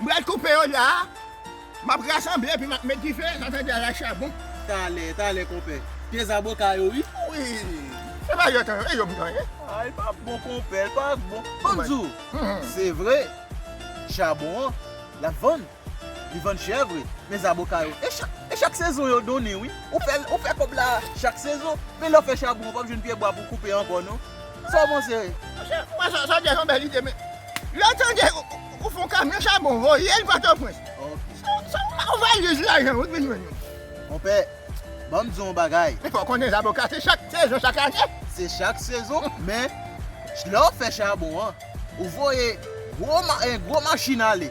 M pral koupe yo la a. M ap rasanble epi m ap met dife san fè djazz ak chabon. Talè, talè konpè. Pye zaboka yo wi. Wi. Se pa yo tan yo, e yo m tan ye. A, li pa bon konpè, li pa bon. Bon m di w, se vre, chabon an, l ap vann. Li vann chè vre. Men zaboka yo, e chak, e chak sezon yo donnen wi. Ou fè, ou fè kòb la a chak sezon. Men lè w fè chabon an, w pap jwenn pyebwa pou w koupe ankò non. Saw panse? Monchè, ou wè sa djaz yon bèl ide men lèw tande ou fon kamyon chabon voyel pòtòprens se ou mak valiz lajan ou t vin jwenn yo. Konpè, banm di w yon bagay. Epi w konnen zaboka se chak sezon chak ane. Se chak sezon men lèw fè chabon an ou voye gwo machin ale.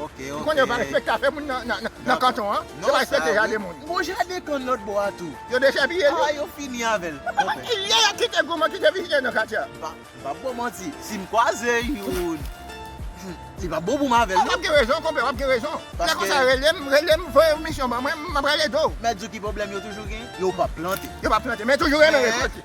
Ou konnen yo pa respekte afè moun nan kanton an. Yo pa respekte jade moun. Gon jade kann lòt bò a tou. Yo dechepiye li. Aa yo fini avè l. Bon men. Kilè y ap kite goumen kite vizye nan katye a? M pa ap ba w manti. Si m kwaze youn. Li pa bon pou m avè l non. A w ap gen rezon konpè w ap gen rezon. Lè konsa rele m, rele m, voye yon misyon ban mwen, m ap rale do w. Mèt di w ki pwoblèm yo toujou gen? Yo pa plante. Yo pa plante men yo toujou renmen rekòlte.